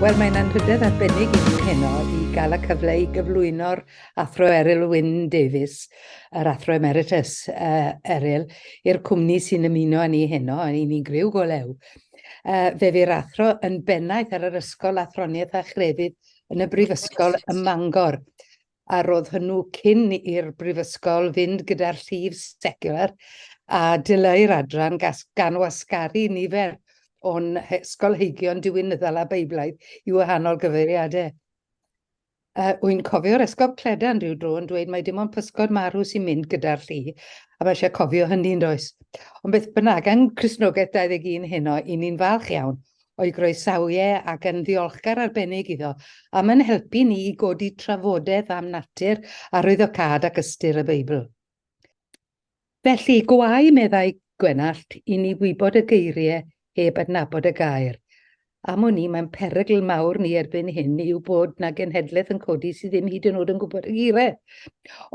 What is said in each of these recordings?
Wel, mae'n anrhydedd arbennig i ni heno i gael y cyfle i gyflwyno'r Athro Eryl Wyn Davies, yr Athro Emeritus uh, Eryl, i'r cwmni sy'n ymuno â ni heno, a i ni'n griw go lew. Uh, fe fu'r athro yn bennaeth ar yr Ysgol Athroniaeth a Chrefydd yn y Brifysgol ym Mangor. a roedd hwnnw cyn i'r brifysgol fynd gyda'r llif seciwlar a dileu'r adran gas gan wasgaru nifer o'n ysgolheigion diwinyddol a Beiblaidd i wahanol gyfeiriadau. Uh, wy'n cofio'r esgob Cledan rhyw dro yn dweud mae dim ond pysgod marw sy'n mynd gyda'r lli, a mae eisiau cofio hynny'n does. Ond beth bynnag, yng Christnogaeth 21 heno, i ni'n falch iawn o'i groesawu e ac yn ddiolchgar arbennig iddo am yn helpu ni i godi trafodaeth am natur arwyddocâd ac ystyr y Beibl. Felly, gwae, meddai Gwenallt, i ni wybod y geiriau heb adnabod y gair. Am wn i, mae'n perygl mawr ni erbyn hyn yw bod na genhedlaeth yn codi sydd ddim hyd yn oed yn gwybod y geiriau.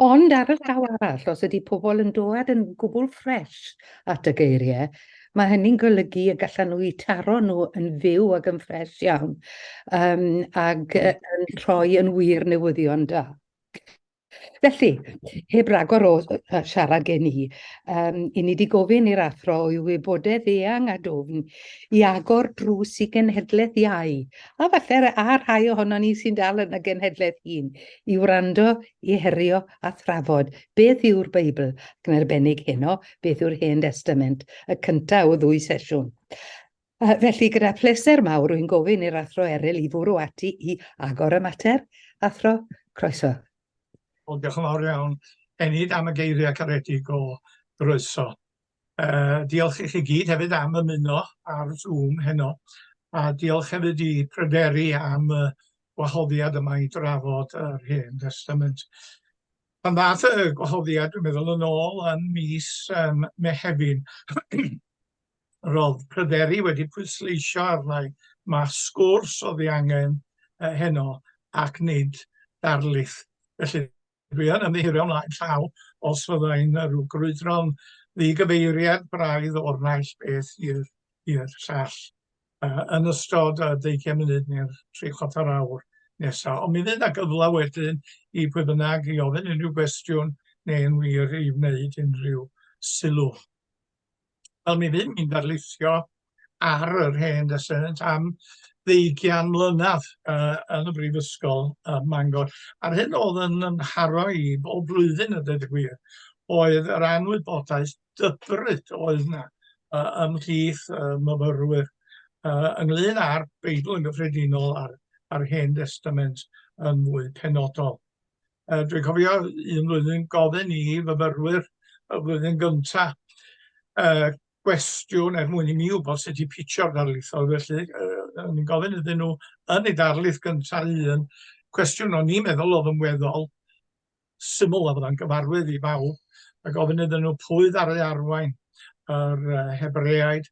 Ond ar y llaw arall, os ydy pobl yn dod yn gwbl ffres at y geiriau, ma' hynny'n golygu y gallan nw 'u taro nw yn fyw ac yn ffres iawn yym ag yy yn rhoi yn wir newyddion da. Felly, heb ragor o yy yy siarad gen i yym 'yn ni 'di gofyn i'r athro o'i wybodedd eang a dwfn i agor drws i genhedleth iau, a falle r- a rhai ohonon ni sy'n dal yn y genhedleth hŷn, i wrando, i herio a thrafod beth yw'r Beibl, ac yn arbennig heno, beth yw'r Hen Destament, y cynta' o ddwy sesiwn. Uh, felly, gyda phleser mawr, rwy'n gofyn i'r athro Eryl i fwrw ati i agor y mater. Athro, croeso. Wel, diolch yn fawr iawn. Enid am y geiriau caredig o groeso. Uh, diolch i chi gyd hefyd am ymuno ar Zoom heno. A diolch hefyd i Pryderi am y wahoddiad yma i drafod yr Hen Testament. Pan ddaeth y gwahoddiad, dwi'n meddwl, yn ôl yn mis um, Mehefin, roedd pryderu wedi pwysleisio arnau mae sgwrs oedd ei angen uh, heno ac nid darlith. Felly, dwi yn ymddiheuro ymlaen llaw os fyddai'n rhyw grwydro'n ddigyfeiriad braidd o'r naill beth i'r llall. uh, yn ystod y 20 munud neu'r 3 chwarter awr nesaf. Ond mi fydd yna gyfle wedyn i pwy bynnag i ofyn unrhyw gwestiwn neu'n wir i wneud unrhyw sylw. Wel, mi fydd ni'n darlithio ar yr hen desynant am ddeugian mlynedd uh, yn y Brifysgol uh, Mangor. A'r hyn oedd yn ymharo i bob blwyddyn y dweud y gwir oedd yr anwybodaeth dybryd oedd yna uh, ymhlith uh, myfyrwyr uh, ynglyn â'r Beibl yn gyffredinol a'r, ar Hen Testament yn fwy penodol. Uh, Dwi'n cofio un flwyddyn gofyn i fyfyrwyr y flwyddyn gyntaf uh, gwestiwn er mwyn i mi wybod sut i pitio'r darlithoedd felly uh, o'n i'n gofyn iddyn nhw yn ei darlith gyntaf un cwestiwn o'n i'n meddwl oedd yn weddol syml a fyddai'n gyfarwydd i bawb, a gofyn iddyn nhw pwy ddaru arwain yr Hebreaid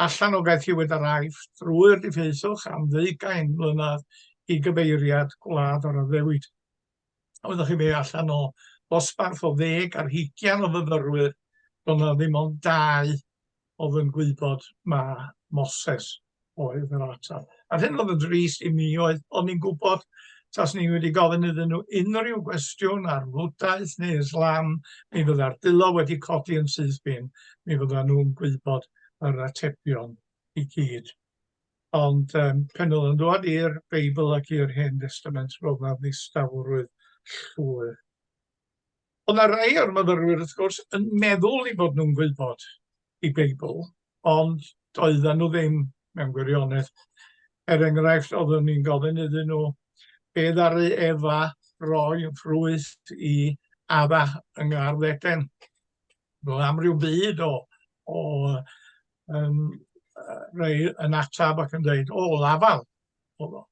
allan o gaethiwyd yr Aifft drwy'r diffeithwch am ddeugain mlynedd i gyfeiriad gwlad yr addewid. Oeddech chi fe allan o ddosbarth o ddeg ar hugian o fyfyrwyr, roedd yna ddim ond dau oedd yn gwybod ma Moses oedd yr atal. A'r hyn oedd yn drist i mi oedd, o'n ni'n gwybod tas ni wedi gofyn iddyn nhw unrhyw gwestiwn ar fwtaeth neu Islam, mi fydda'r dilo wedi codi yn syth bin, mi fydda nhw'n gwybod yr atebion i gyd. Ond um, pen oedd yn dod i'r Beibl ac i'r Hen Testament, roedd na ddistawrwydd llwyr. Oedd yna rai o'r myfyrwyr, wrth gwrs, yn meddwl ei bod nhw'n gwybod ei Beibl, ond doedden nhw ddim, mewn gwirionedd. Er enghraifft, oeddwn ni'n gofyn iddyn nhw be ddaru Efa roi yn ffrwyth i Adda yng Ngardd Eden. Roedd amryw byd o, o um, rei yn atab ac yn dweud, o, lafal, oedd o.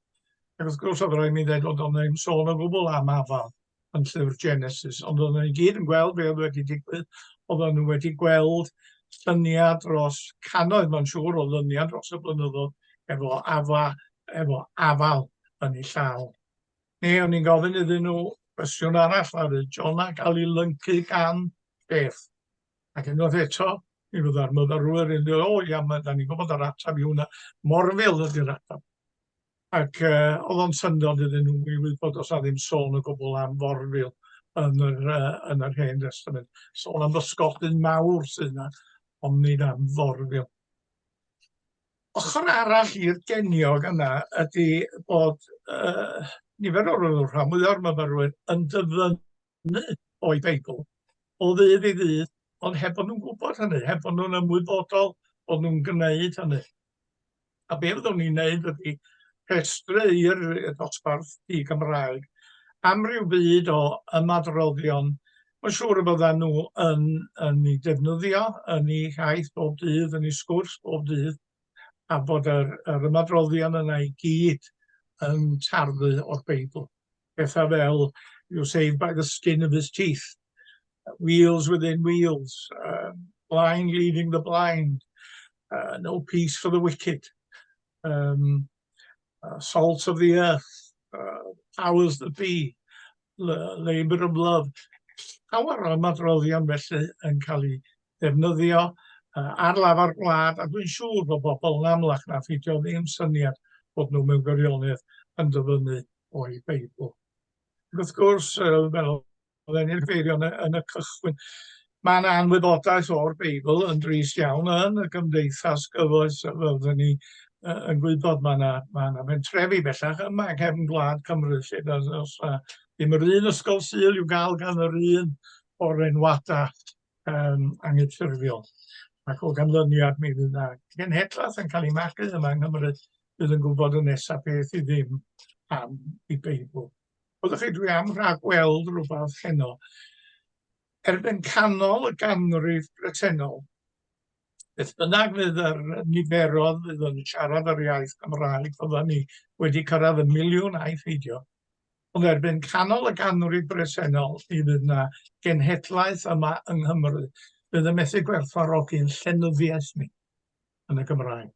Ac wrth gwrs oedd rhaid mi ddweud bod o'n ddim sôn o gwbl am afal yn llyfr Genesis, ond oedden nhw i gyd yn gweld be oedd wedi digwydd, oedden nhw wedi gweld llyniau dros cannoedd, mae'n siŵr, o lyniau dros y blynyddoedd efo afa, efo afal yn ei llaw. Ne, o'n i'n gofyn iddyn nhw cwestiwn arall, a John Jonah gael ei lyncu gan beth? Ac unwaith eto, mi fydda'r myfyrwyr yn dweud, o ia, mae, da ni'n gwybod yr ateb i hwnna, Morfil ydy'r ateb. Ac uh, oedd o'n syndod iddyn nhw i wybod os na ddim sôn o gwbl am Forfil yn yr, uh, yn yr Hen Testament. Sôn am ddysgodyn mawr sydd yna, ond nid am Forfil. Ochr arall i'r geniog yna ydy bod uh, nifer o'r rhan mwyaf o'r myfyrwyr yn dyfynnu hynny o'i Beibl o ddydd i ddydd, ond heb bod nhw'n gwybod hynny, heb bod nhw'n ymwybodol bod nhw'n gwneud hynny. A be fyddwn ni'n gwneud ydy rhestru i'r dosbarth i Gymraeg am ryw byd o ymadroddion mae'n siŵr y byddan nhw yn, yn ei defnyddio yn ei haith bob dydd, yn ei sgwrs bob dydd, a bod yr, yr ymadroddion yna i gyd yn tarddu o'r Beibl. pethau fel you're saved by the skin of his teeth, wheels within wheels, uh, blind leading the blind, uh, no peace for the wicked, um, uh, salt of the earth, uh, powers that be, labour of love. Llawer o ymadroddion felly yn cael ei ddefnyddio uh, ar lafar gwlad, a dwi'n siŵr bod bobl yn amlach na ffidio ddim syniad bod nhw mewn gwirionedd yn dyfynnu o'i Beibl. Ac wrth gwrs, fel oedden ni'n ffeirio yn y cychwyn, mae yna anwybodaeth o'r Beibl yn drist iawn yn y gymdeithas gyfoes, fel oedden ni yn gwybod, mae yna ma yna mentrefi bellach yma yng nghefn gwlad Cymru, lle does yna ddim yr un ysgol syl i'w gael gan yr un o'r enwadau um, anghyffurfiol. Ac o ganlyniad, mi fydd yna genhedlaeth yn cael ei magu yma yng Nghymru bydd yn gwybod y nesaf beth i ddim am i Beibl. Oeddech chi, dwi am rhagweld rhywbeth heno. Erbyn canol y ganrif bretennol, beth bynnag fydd yr niferodd fydd yn siarad yr iaith Gymraeg, fyddan ni wedi cyrraedd y miliwn a'i pheidio. Ond erbyn canol y ganrif bresennol, mi fydd yna genhedlaeth yma yng Nghymru fydd yn methu gwerthfarogi'n llenyddiaeth ni. yn y Gymraeg.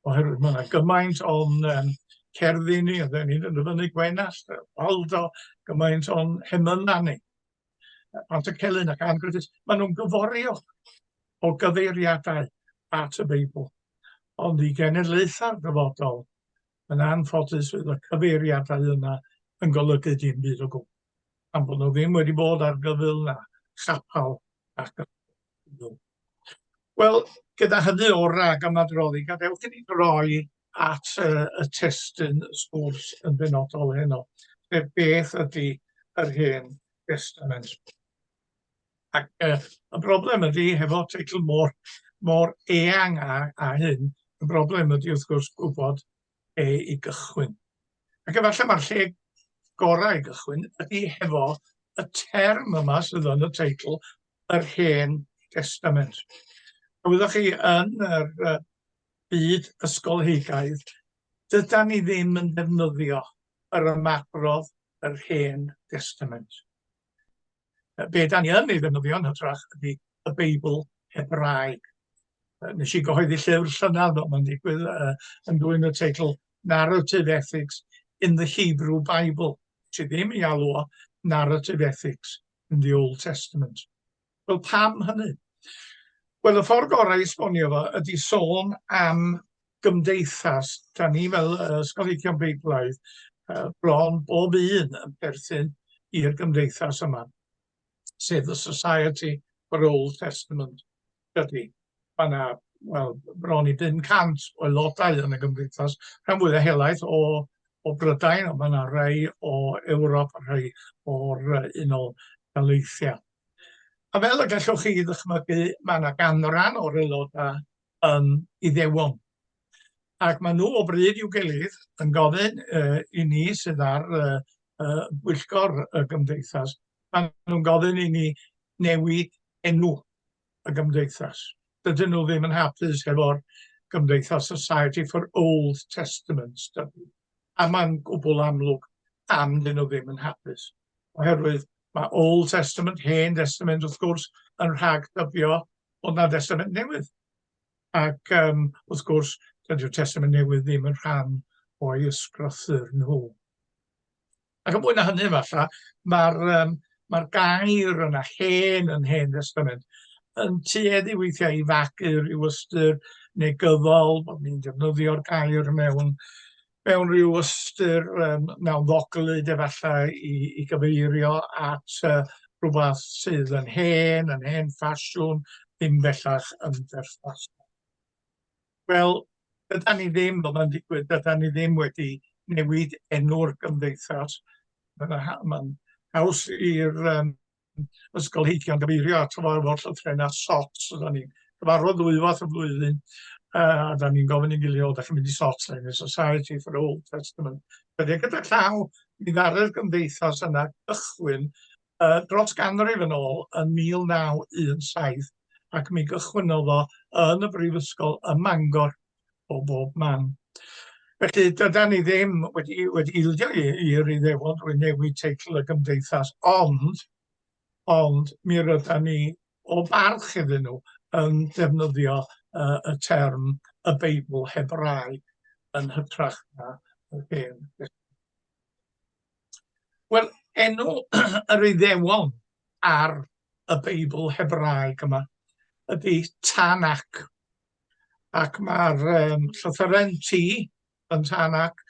Oherwydd mae yna gymaint o'n um, cerddi ni, a dyn ni'n dyfynu Gwenast, Waldo, gymaint o'n hemynna ni. Pant y Celyn ac Ann Griffiths, maen nhw'n gyforio o gyfeiriadau at y Beibl. Ond i genedlaethau'r dyfodol, yn anffodus fydd y cyfeiriadau yna yn golygu dim byd o gwbl. Am bod nhw ddim wedi bod ar gyfyl na chapel ac gyfyl. Wel, gyda hynny o ragymadroddi, gadewch i ni droi at y, y testyn sgwrs yn benodol heno, sef beth ydy yr hen testament. Ac e, y broblem ydy, hefo teitl mor, mor eang a, a hyn, y broblem ydy wrth gwrs gwybod lle i gychwyn. Ac efallai mae'r lle gorau i gychwyn ydy hefo y term yma sydd yn y teitl, yr Hen Destament. A wyddoch chi, yn yr uh, byd ysgolheigaidd, dyda ni ddim yn defnyddio yr ymadrodd yr Hen Destament. be da ni yn ei ddefnyddio yn hytrach ydy y Beibl Hebraeg. Nes i gyhoeddi llyfr llynedd fel mae'n digwydd uh, yn dwy'n y teitl Narrative Ethics in the Hebrew Bible, sydd ddim i alw o Narrative Ethics in the Old Testament. Wel, pam hynny? Wel, y ffordd gorau i esbonio fo ydy sôn am gymdeithas, 'da ni fel yy ysgolheigion Beiblaidd yy bron bob un yn perthyn i'r gymdeithas yma, sef y Society for Old Testament Study. Mae yna, wel, bron i 500 o aelodau yn y gymdeithas, rhan fwya helaeth o o Brydain, ond mae yna rhai o Ewrop a rhai o'r uh, Unol Daleithiau. A fel y gallwch chi ddychmygu, mae yna ganran o'r aelodau um, Iddewon. Ac maen nhw o bryd i'w gilydd yn gofyn uh, i ni sydd ar uh, uh, bwyllgor y gymdeithas, maen nhw'n gofyn i ni newid enw y gymdeithas. Dydyn nhw ddim yn hapus efo'r gymdeithas Society for Old Testament Study. A mae'n gwbl amlwg am dyn nhw ddim yn hapus. Oherwydd mae Old Testament, Hen Testament wrth gwrs, yn rhag dybio Ond mae'r Testament Newydd. Ac um, wrth gwrs, dydy'r Testament Newydd ddim yn rhan o'i ysgrothyr nhw. Ac yn fwy na hynny, falle, mae'r um, mae gair yna, hen yn hen testament, yn tueddu weithiau i fagu rhyw ystyr negyddol, bod ni'n defnyddio'r gair mewn mewn rhyw ystyr yym mewn ddoglyd efallai i i gyfeirio at yy rhywbeth sydd yn hen, yn hen ffasiwn, ddim bellach yn berthnasol. Wel, dydan ni ddim, fel mae'n digwydd, dydan ni ddim wedi newid enw'r gymdeithas. Mae'n haws i'r ysgolheigion gyfeirio at gyfarfod llythrennau a SOTs. Oedden ni'n cyfarfod ddwywaith y flwyddyn, a da ni'n gofyn i'n gilydd, o, da chi'n mynd i SOTs, da ni'n Society for Old Testament. Byddai gyda llaw, mi ddarodd gymdeithas yna gychwyn uh, dros ganrif yn ôl yn 1917, ac mi gychwyn o yn y brifysgol ym Mangor, o bob man. Felly, dyda ni ddim wedi, wedi ildio i'r Iddewon drwy newid teitl y gymdeithas, ond, ond mi ryda ni o barch iddyn nhw yn defnyddio uh, y term y Beibl Hebraeg yn hytrach na y hen. Wel, enw yr Iddewon ar y Beibl Hebraeg yma ydy Tanakh. ac mae'r um, llythyren T yn tan ac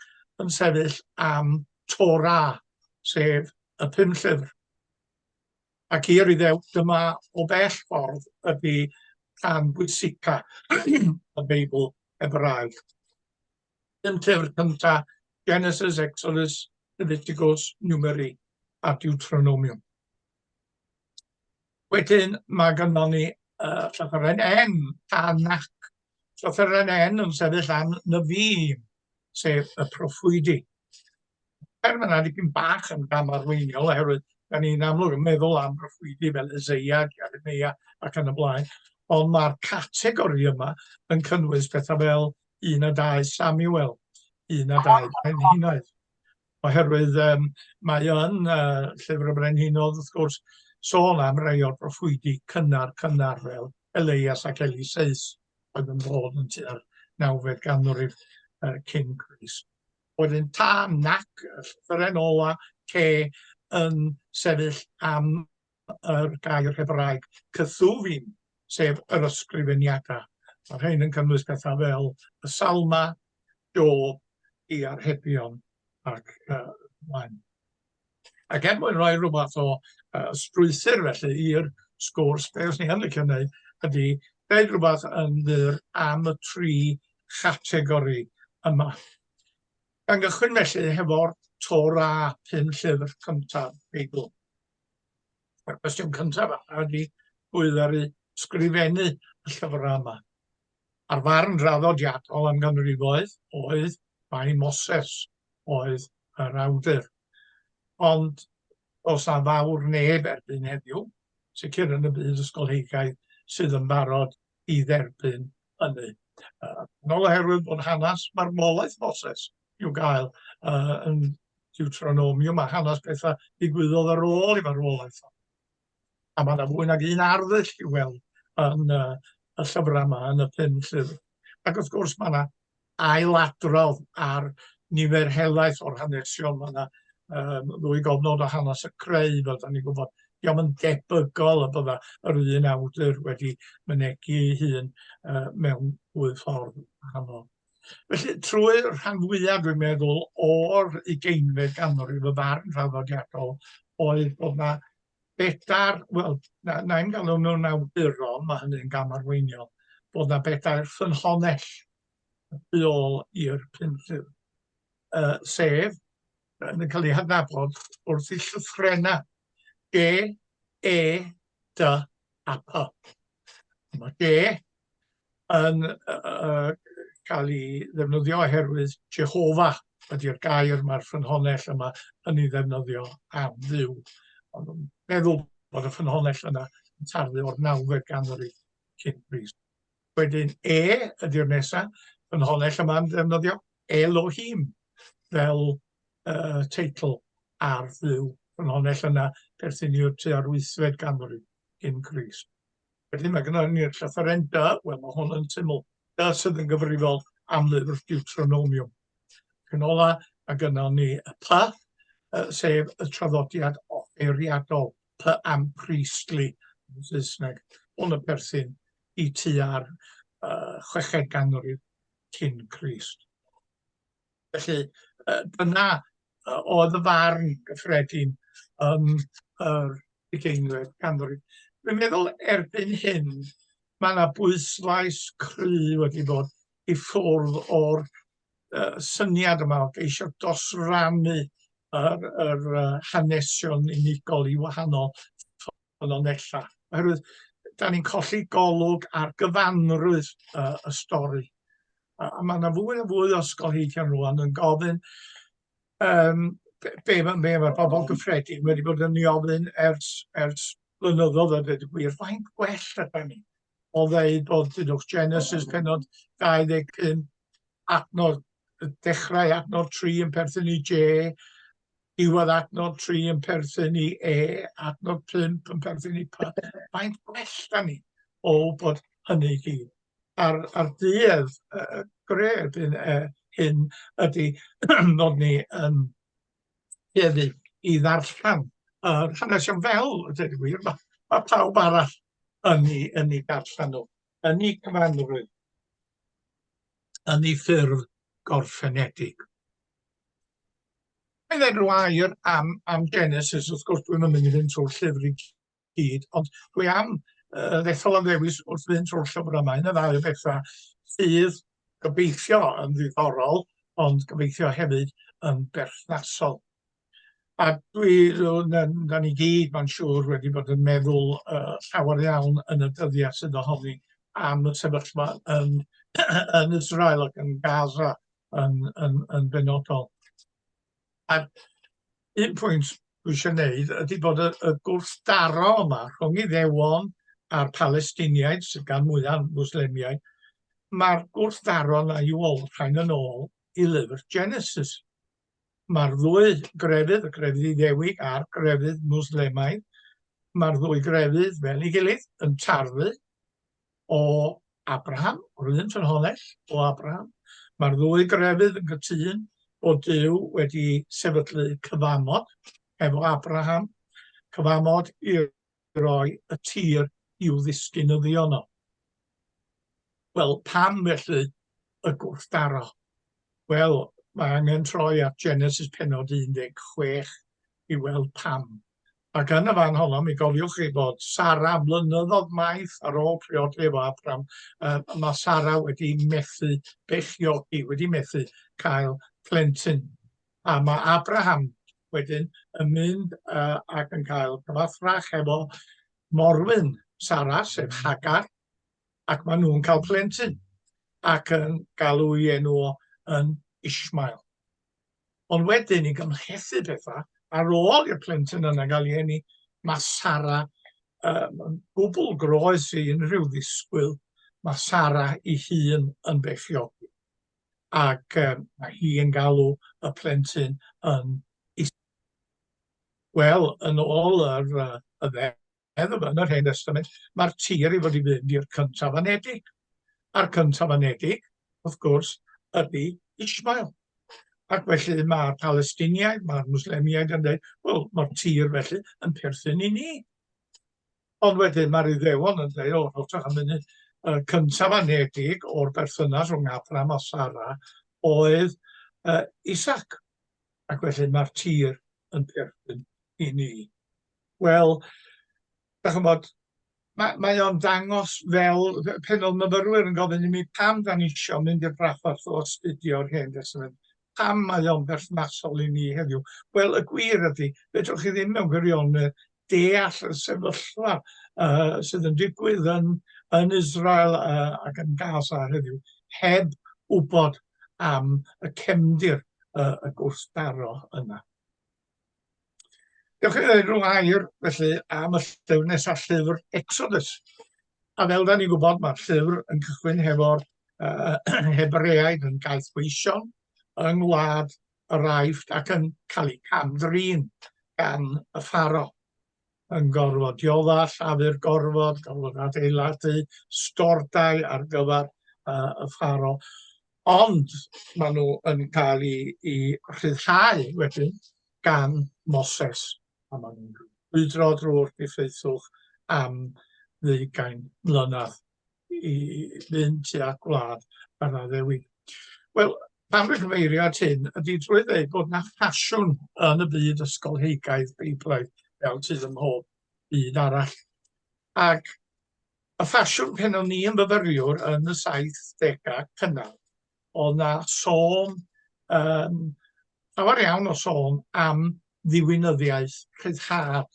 yn sefyll am Torah, sef y pum llyfr. Ac i yr iddew, dyma o bell ffordd ydy rhan bwysica y Beibl Hebraeg. Dim llyfr cynta, Genesis, Exodus, Leviticus, Numeri a Deuteronomium. Wedyn mae gynnon ni uh, llythyren N, tan nac. Llythyren N yn sefyll am nyfi, sef y proffwydi. Er mae'n dipyn bach yn gam arweiniol oherwydd da ni'n amlwg yn meddwl am broffwydi fel Ezeia, Jeremia ac yn y blaen, ond mae'r categori yma yn cynnwys pethau fel un a dau Samuel, un a dau Brenhinoedd, Oherwydd yym mae yn yy Llyfr y Brenhinodd wrth gwrs sôn am rei o'r proffwydi cynnar cynnar fel Eleias ac Eliseus oedd yn dod yn tua'r nawfed ganrif yy cyn Crist. Wedyn tan nac y llythyren ola K yn sefyll am yr gair Hebraeg kethu'vim, sef yr ysgrifeniadau. Mae rhain yn cynnwys pethau fel y Salma, Job, i archebion ac uh, mlaen. Ac er mwyn rhoi rhywbeth o uh, strwythyr felly i'r sgwrs, beth ni yn licio wneud ydy dweud rhywbeth yn ddur am y tri chategori yma. Gan gychwyn felly hefo'r Torah pum llyfr cyntaf Beibl. A'r cwestiwn cyntaf a ydy pwy ddaru sgrifennu y llyfrau yma? A'r farn draddodiadol am ganrifoedd oedd mai Moses oedd yr awdur. Ond os na fawr neb erbyn heddiw, sicr yn y byd ysgolheigaidd, sydd yn barod i dderbyn hynny. Yn ôl oherwydd bod hanes marwolaeth Moses i'w gael uh, yn Deuteronomium a hanes pethau digwyddodd ar ôl i farwolaeth o. A mae yna fwy nag un arddull i weld yn uh, y llyfrau yma, yn y pum llyfr. Ac wrth gwrs mae yna ailadrodd ar nifer helaeth o'r hanesion. Mae yna um, ddwy gofnod o hanes y creu, fel da ni'n gwybod. Diolch yn debygol y bydda yr un awdur wedi mynegu hun uh, mewn dwy ffordd wahanol. Felly, trwy rhan fwyaf, dwi'n meddwl, o'r ugeinfed ganrif y farn rhaddodiadol oedd bod yna bedair, wel, na- na i'm galw nhw'n awduron, ma' hynny'n gamarweiniol, bod 'na bedair ffynhonnell y tu ôl i'r pum llyn, yy sef, yn cael eu hadnabod wrth eu llythrennau, de, e, dy a py. Dyma de, yn cael ei ddefnyddio oherwydd Jehova ydy'r gair mae'r ffynhonnell yma yn ei ddefnyddio am dduw. Ond yn meddwl bod y ffynhonnell yna yn tarfu o'r nawfed ganrif cyn Grist. Wedyn e ydy'r nesaf, ffynhonnell yma'n ddefnyddio Elohim fel uh, teitl ar dduw. Ffynhonnell yna perthyn i'r tua'r wythfed ganrif cyn Grist. Wedyn mae gynnon ni'r llythyren dy, wel mae hwn yn syml, dy sydd yn gyfrifol am lyfr Deuteronomium. Yn ola, mae gynnon ni y py, sef y traddodiad offeiriadol, py am priestly yn Saesneg. Hwn y perthyn i tu ar uh, chweched ganrif cyn Christ. Felly, yy dyna yy oedd y farn gyffredin yn yr ugeinfed ganrif. Dwi'n meddwl erbyn hyn ma' 'na bwyslais cry' wedi bod i ffwrdd o'r yy syniad yma o geisio dosrannu yr yr yy hanesion unigol i wahanol y linellau, oherwydd da ni'n colli golwg ar gyfanrwydd uh, y stori. A, a mae yna fwy a fwy o ysgolheigion rwan yn gofyn um, be, be, be mae'r bobl gyffredin wedi bod yn ei ofyn ers, ers blynyddoedd a dweud y gwir, faint gwell ydyn ni o ddeud bod dydwch Genesis penod 25 adnod dechrau adnod 3 yn perthyn i J, Diwedd adnod 3 yn perthyn i E, adnod 5 yn perthyn i P. Faint gwell da ni o bod hynny i gyd. A'r, ar duedd uh, gred yn, uh, hyn ydy nod ni yn tueddu i ddarllen uh, hanesion fel, dweud y gwir, mae ma pawb arall yn ei, yn ei darllen nhw, yn ei cyfanrwydd, yn ei ffurf gorffenedig. Mae'n dweud rhyw air am, am Genesis, wrth gwrs dwi'n mynd i fynd trwy'r llyfr i gyd, ond dwi am uh, ddethol am ddewis wrth fynd trwy'r llyfr yma, un o ddau o bethau sydd gobeithio yn ddiddorol, ond gobeithio hefyd yn berthnasol. A dwi, da ni gyd, mae'n siŵr, wedi bod yn meddwl uh, llawer iawn yn y dyddiau sydd ohoni am y sefyllfa yn, yn Israel ac yn Gaza yn, yn, yn benodol. A'r un pwynt dwi eisiau gwneud ydy bod y, y gwrthdaro yma rhwng Iddewon a'r Palestiniaid, sydd gan mwyaf Mwslemiaid, mae'r gwrthdaro yna i olrhain yn ôl i lyfr Genesis. Mae'r ddwy grefydd, y grefydd Iddewig a'r grefydd Mwslemaidd, mae'r ddwy grefydd fel ei gilydd yn tarfu o Abraham, yr un ffynhonnell o Abraham. Mae'r ddwy grefydd yn gytun bod Duw wedi sefydlu cyfamod efo Abraham, cyfamod i roi y tir i'w ddisgynyddio nhw. Wel, pam felly y gwrthdaro? Wel, mae angen troi at Genesis penod 16 i weld pam. Ac yn y fan honno, mi gofiwch chi bod Sara, mlynyddodd maith ar ôl priodi efo Abram, um, mae Sara wedi methu bechiogi, wedi methu cael plentyn. A mae Abraham wedyn yn mynd uh, ac yn cael cyfathrach efo morwyn Sara, sef mm. Hagar, ac maen nhw'n cael plentyn ac yn galw ei enw yn Ishmael. Ond wedyn, i gymhlethu pethau, ar ôl i'r plentyn yna gael ei eni, mae Sara um, yn gwbl groes i unrhyw ddisgwyl. Mae Sara i hun yn beichiogi. Ac um, mae hi yn galw y plentyn yn is... Wel, yn ôl yr, uh, y Meddwl yn yr Hen Destament, mae'r tir i fod i fynd i'r cyntafanedig. A'r cyntafanedig, wrth gwrs, ydy Ishmael. Ac felly mae'r Palestiniaid, mae'r Mwslemiaid yn dweud, wel, mae'r tir felly yn perthyn i ni. Ond wedyn mae'r Iddewon yn dweud, o, rhowch am munud, y cyntafanedig o'r berthynas rhwng Abram a Sara oedd uh, Isaac. Ac felly mae'r tir yn perthyn i ni. Wel, da chymod, mae, mae o'n dangos fel pen o'n myfyrwyr yn gofyn i mi pam da ni eisiau mynd i'r braffordd o astudio'r hen destament. Pam mae o'n berthnasol i ni heddiw? Wel, y gwir ydy, fedrwch chi ddim mewn gwirionedd deall y sefyllfa uh, sydd yn digwydd yn, yn Israel uh, ac yn Gaza heddiw, heb wybod am y cefndir uh, y gwrthdaro yna. Diolch yn fawr rhwng air felly am y llyfr nesaf, llyfr Exodus. A fel da ni'n gwybod, mae'r llyfr yn cychwyn hefo'r uh, Hebreaid yn gaeth weision yng ngwlad yr Aifft ac yn cael ei camdrin gan y ffaro. yn gorfod diodda' llafur gorfod, gorfod adeiladu stordai ar gyfer yy y faro, ond ma' nw yn ca'l 'u 'u rhyddhau wedyn gan Moses, a ma' nw'n brwydro drw'r diffeithwch am ddeugain mlynadd. i Llŷn tua gwlad yr addewid. Wel, pan dwi'n cyfeirio at hyn, ydy drwy ddeud bod yna ffasiwn yn y byd ysgolheigaidd Beiblaidd fel sydd ym mhob byd arall. Ac y ffasiwn pen o'n i yn fyfyriwr yn y 70au cynnar oedd na sôn, um, llawer iawn o sôn am ddiwinyddiaeth rhyddhad,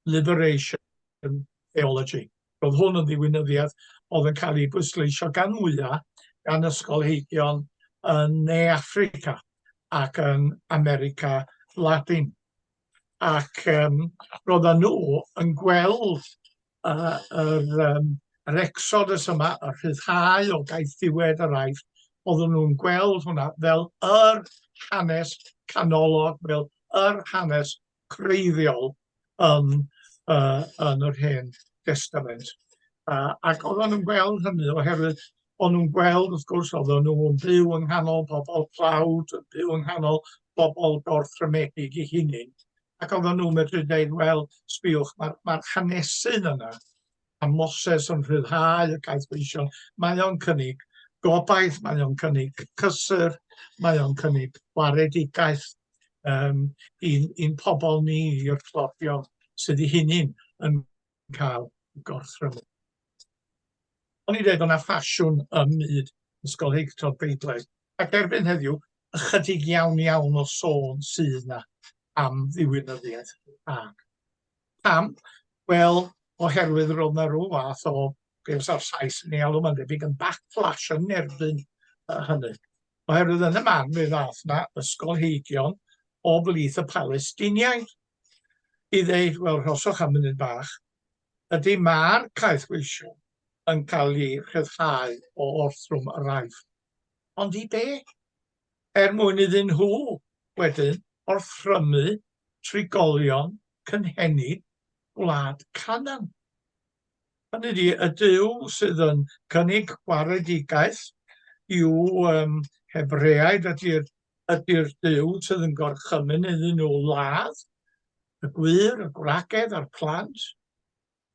liberation theology. Roedd hwn yn ddiwinyddiaeth oedd yn cael ei bwysleisio gan wyau gan ysgolheigion yn Ne Africa ac yn America Latin. Ac um, roedden nhw yn gweld a yr yym yr exodus yma, y rhyddhau o gaeth ddiwedd yr Aifft, oedden nhw'n gweld hwnna fel yr hanes canolog, fel yr hanes creiddiol yn, uh, yn yr Hen Testament. Uh, ac oedden nhw'n gweld hynny oherwydd o'n nhw'n gweld, wrth gwrs, oedden nhw'n byw yng nghanol bobl tlawd, yn byw yng nghanol bobl gorthrymedig i hunain, Ac oedden nhw'n medru dweud, wel, sbiwch, mae'r ma hanesyn yna, a Moses yn rhyddhau y caethweision, mae o'n cynnig gobaith, mae o'n cynnig cysur, mae o'n cynnig gwaredigaeth um, i'n, in pobl ni, i'r clodion sydd i hynny'n yn yn cael eu gorthrymu. O'n i'n dweud, o'na ffasiwn ym myd ysgolheictod Beiblaidd, ac erbyn heddiw, ychydig iawn iawn o sôn sydd yna am ddiwinyddiaeth ac pam? Wel, oherwydd roedd yna rhyw fath o, be fysa o'r Sais yn ei alw, mae'n debyg yn backlash yn erbyn uh, hynny. Oherwydd yn y man fe ddath yna ysgolheigion o blith y Palestiniaid i ddeud, wel, rhoswch am munud bach, ydy mae'r caethweisio yn cael ei rhyddhau o orthrwm yr aif. Ond i be? Er mwyn iddyn nhw wedyn orthrymu trigolion cynhenid gwlad Canaan. Hynny ydi, y Duw sydd yn cynnig gwaredigaeth i'w um, Hebreaid ydy'r ydy Duw sydd yn gorchymyn iddyn nhw ladd y gwir, y gwragedd a'r plant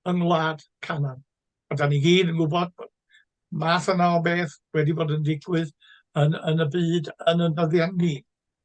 yng ngwlad Canan. A da ni gyd yn gwybod bod math yna o beth wedi bod yn digwydd yn, yn y byd yn y nyddiau ni.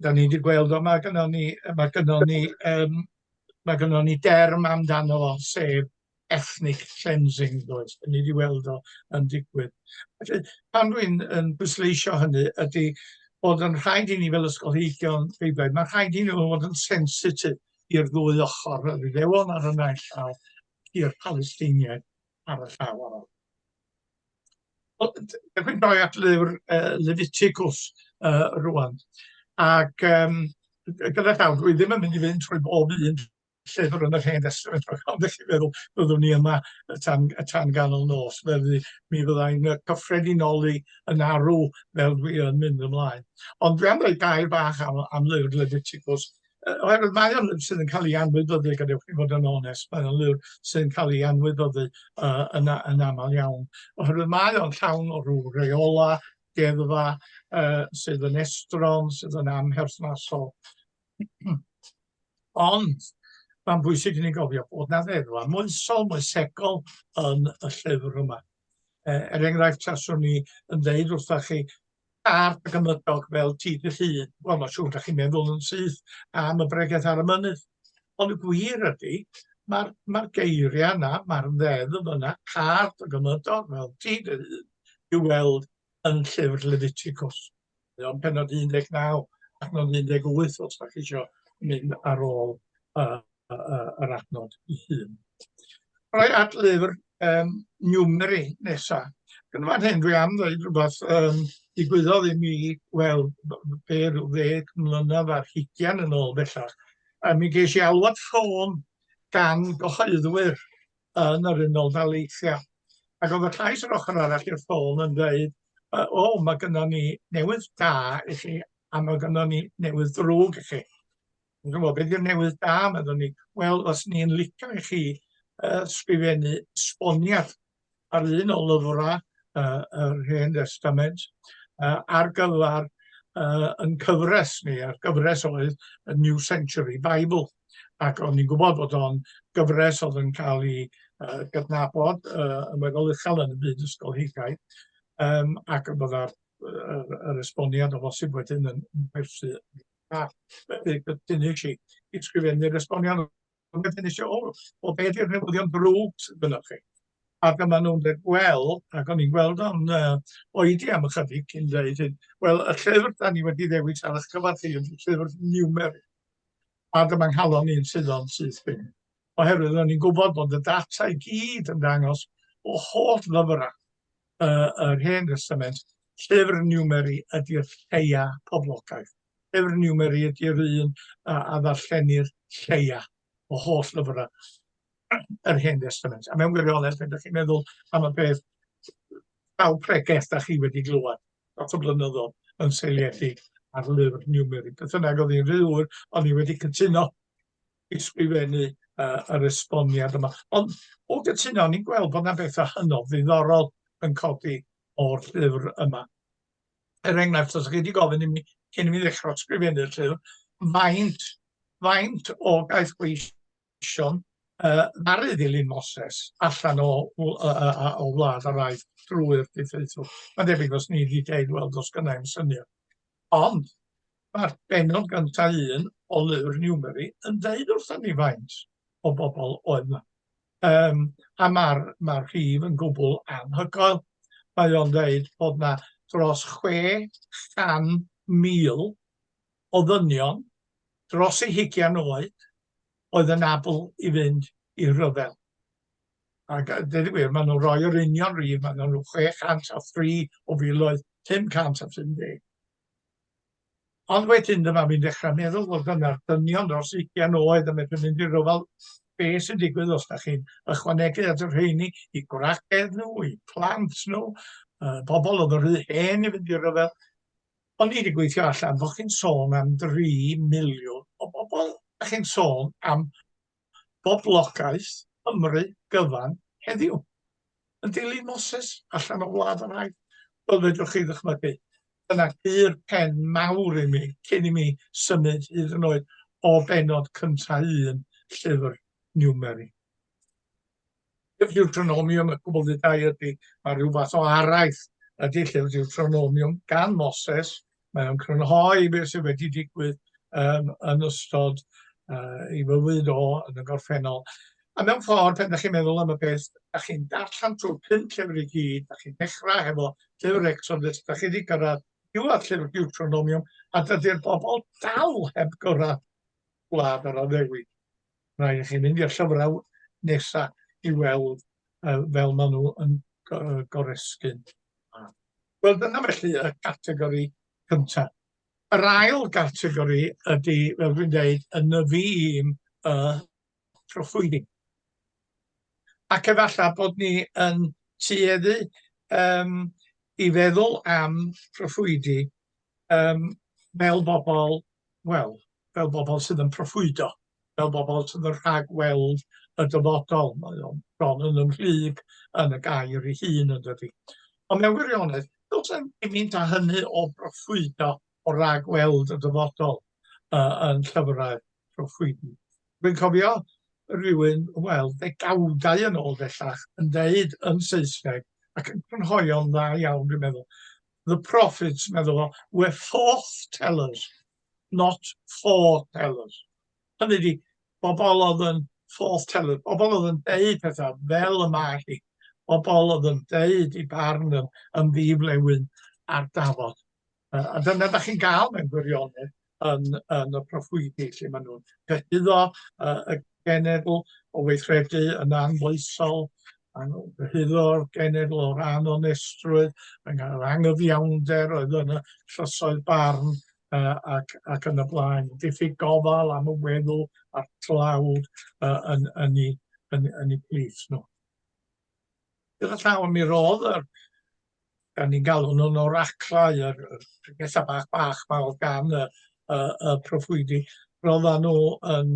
da ni wedi gweld o, mae gynnon ni, mae gynnon ni, um, mae gynnon ni derm amdano fo, sef ethnic cleansing, does. Da ni wedi weld o yn digwydd. Felly, pan dwi'n yn bwysleisio hynny, ydy bod yn rhaid i ni fel ysgolheigion Beiblau, mae rhaid i ni fod yn sensitif i'r ddwy ochr, yr Iddewon ar y naill llaw, i'r Palestiniaid ar y llaw arall. Wel, dewch i'n doi at lyfr uh, Leviticus uh, rwan. Ac um, gyda llaw, dwi ddim yn mynd i fynd trwy bob un llyfr yn yr hen testament, ond ydych chi'n meddwl byddwn ni yma y tan, y tan ganol nos, felly mi fyddai'n cyffredinoli yn arw fel dwi yn mynd ymlaen. Ond dwi am ddweud gair bach am, am lyfr Leviticus, oherwydd mae o'n sydd yn cael ei anwybyddu, gadewch i fod yn onest, mae o'n lyfr sydd yn cael ei anwybyddu uh, yn, yn aml iawn, oherwydd mae o'n llawn o rhyw reola, deddfa uh, sydd yn estron, sydd yn amherthnasol. Ond mae'n bwysig i ni gofio bod na ddeddfa moesol, moesegol yn y llyfr yma. Uh, er enghraifft, taswn ni yn dweud wrthych chi, Tard ac ymledog fel ti dy llun. Wel, mae'n siŵr da chi'n meddwl yn syth am y bregeth ar y mynydd. Ond y gwir ydy, mae'r ma geiriau yna, mae'r ddeddf yna, card ac ymledog fel ti dy llun, i'w weld yn llyfr Leviticus. Yn penod 19 ac nod 18, os da chi eisiau mynd ar ôl uh, yr adnod i hun. Rhaid at lyfr um, Newmery nesa. Yn fan hyn dwi am ddweud rhywbeth um, digwyddodd i mi, wel, be rhyw ddeg mlynedd ar hugian yn ôl bellach, a mi geis i alwad ffôn gan gyhoeddwyr yn yr unol daleithiau. Ac oedd y llais yr ochr arall i'r ffôn yn dweud, o, oh, mae gynnon ni newydd da i chi, a mae gynnon ni newydd ddrwg i chi. Yn gwybod, beth yw'r newydd da, meddwn ni. Wel, os ni'n licio i chi uh, sgrifennu sboniad ar un o lyfrau uh, yr Hen Testament uh, ar gyfer uh, yn cyfres ni, a'r gyfres oedd y New Century Bible. Ac o'n ni'n gwybod bod o'n gyfres oedd yn cael ei uh, gydnabod uh, yn weddol uchel yn y byd ysgolheigaidd, um, ac y bydda'r yr esboniad o bosib wedyn yn perthyn a dynnu chi i sgrifennu'r esboniad wedyn eisiau o, o beth yw'r newyddion brwd gyda chi. Ac yma nhw'n dweud, wel, ac o'n i'n gweld o'n uh, oedi am ychydig cyn dweud hyn, wel, y llyfr da ni wedi ddewis ar eich cyfer chi yn llyfr niwmer. Ac yma nghalon ni'n suddo'n syth bin. Oherwydd o'n i'n gwybod bod y data i gyd yn dangos o holl ddyfrau uh, yr Hen Testament, llyfr niwmeri ydy'r lleia poblogaeth. Llyfr niwmeri ydy'r un a, a ddarllenir lleia o holl lyfrau yr Hen Testament. A mewn gwirionedd, pan ydych chi'n meddwl am y peth aw pregeth da chi wedi glywed lot o blynyddoedd yn seiliedig ar lyfr niwmeri. Beth yna oedd hi'n rhywr, ond ni wedi cytuno ysgrifennu uh, yr esboniad yma. Ond o gytuno, ni'n gweld bod yna bethau hynod ddiddorol yn codi o'r llyfr yma. Er enghraifft, os ydych chi wedi gofyn i mi cyn i mi ddechrau sgrifennu'r llyfr, faint, faint o gaeth gweision uh, ddaru ddilyn Moses allan o, o, o, o wlad a rhaid drwy'r diffeithw. Mae'n debyg os ni wedi deud, wel, dos gynnau'n syniad. Ond mae'r pennod gyntaf un o lyfr Newbery yn deud wrthon ni faint o bobl oedd 'ma. Yym a ma'r ma'r rhif yn gwbl anhygoel. Mae o'n deud bod 'na dros chwe chan mil o ddynion dros eu hugian oed oedd yn abl i fynd i rhyfel. Ac a dweud y gwir, maen nhw'n rhoi yr union rhydd, maen nhw'n 603 o filoedd 550. Ond wedyn dyma fi'n dechrau meddwl fod yna'r dynion dros 20 oed yn medru mynd i ryfel be sy'n digwydd os da chi'n ychwanegu at yr rheini i gwragedd nhw, i plant nhw, uh, pobl oedd yn rhy hen i fynd i ryfel. Ond ni wedi gweithio allan bod chi'n sôn am 3 miliwn o bobl, da chi'n sôn am boblogaeth Cymru gyfan heddiw. Yn dilyn Moses allan o wlad yr haith, fel fedrwch chi ddychmygu, dyna gur pen mawr i mi cyn i mi symud hyd yn oed o bennod cyntaf un llyfr Niwmeri. Deuteronomium y Gwblhydau ydy, mae rhyw fath o araith ydy Llyfr Deuteronomium gan Moses. Mae o'n crynhoi beth sydd wedi digwydd um, yn ystod uh, i fywyd o yn y gorffennol. A mewn ffordd, pan ydych chi'n meddwl am y peth, ydych chi'n darllen trwy pum llyfr i gyd, ydych chi'n dechrau hefo llyfr Exodus, ydych chi wedi gyrraedd diwedd llyfr Deuteronomium, a dydy'r bobl dal heb gyrraedd gwlad yr addewid. Rhaid i chi mynd i'r llyfrau nesaf i weld uh, fel maen nhw yn goresgyn. Wel, dyna felly y categori cyntaf. Yr ail gategori ydy, fel dwi'n dweud, y nyfu un y trophwydi. Ac efallai bod ni yn tueddu um, i feddwl am trophwydi yym fel bobol, wel, fel bobol sydd yn proffwydo, fel bobol sydd yn rhagweld y dyfodol, mae o'n bron yn ymhlug yn y gair ei hun yndydi? Ond mewn gwirionedd, does na'm gymint â hynny o broffwydo, o ragweld y dyfodol uh, yn llyfrau proffwydi. Dwi'n cofio rhywun, wel, ddegawdau yn ôl bellach, yn deud yn Saesneg, ac yn crynhoio'n dda iawn, dwi'n meddwl, the prophets, meddwl o, were forth tellers, not for tellers. Hynny di, bobl oedd yn forth tellers, bobl oedd yn deud pethau fel y mae hi, bobl oedd yn deud i barn yn, yn ddiflewyn ar dafod. Uh, a dyna da chi'n gael mewn gwirionedd, yn yn y proffwydi lle maen nhw'n cyhuddo yy y genedl o weithredu yn anfoesol, yn cyhuddo'r genedl o ran onestrwydd, yn yr angyfiawnder oedd yn y llysoedd barn uh, ac, ac yn y blaen. Diffyg gofal am y weddw a'r tlawd uh, yn, yn, ei, yn, yn ei plith nhw. Gyda llaw mi roedd yr da ni'n galw nhw'n oraclau, yr yr pethau bach bach 'ma o'dd gan y y y proffwydi, ro'ddan nhw yn